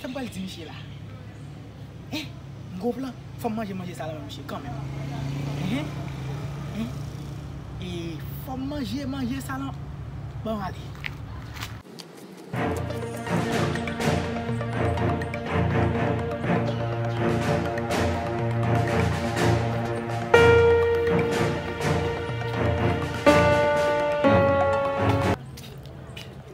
Sa m pral di misye la eh gwo plan fòm manje manje sa la menm misye kanmenm eeh eeh fòm manje manje sa la bon ale.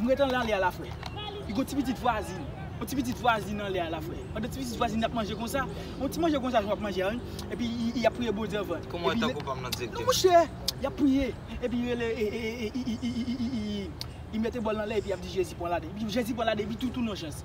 M ret anlè anlè a la frè. Li gon ti pitit vwazin. Yon ti pitit vwazin anlè a la frè. Pandan ti pitit vwazin ap manje konsa. Yon ti manje konsa jan w ap manje a wi. Epi y ap priye Bondye anvan. Kouman tan kou pa m nan direktè. Non mouche! Y ap priye. Epi y rele ee. Y mete bòl nan lè epi y ap di Jezi pran ladan. Jezi pran ladan epi tou tounen yon chans.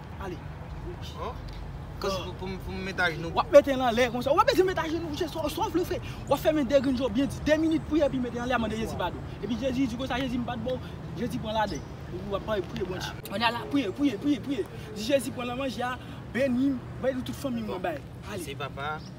Ale. Pou m met ajenou. Wap mete l anlè konsa. Ou pa bezwen met ajenou. Se sa w vle fè. Wap fèmen de grenn je w byen di. De minit priye epi mete l anlè ap mande Jezi padon. Epi Jezi di konsa, Jezi m pa t ba w. Jezi pran ladan. Epi wap priye Bondye. Ann ala priye, priye, priye, priye. Di Jezi pran nan manje a, beni m, beni tout fanmi m nan bay. Ale. Mèsi papa.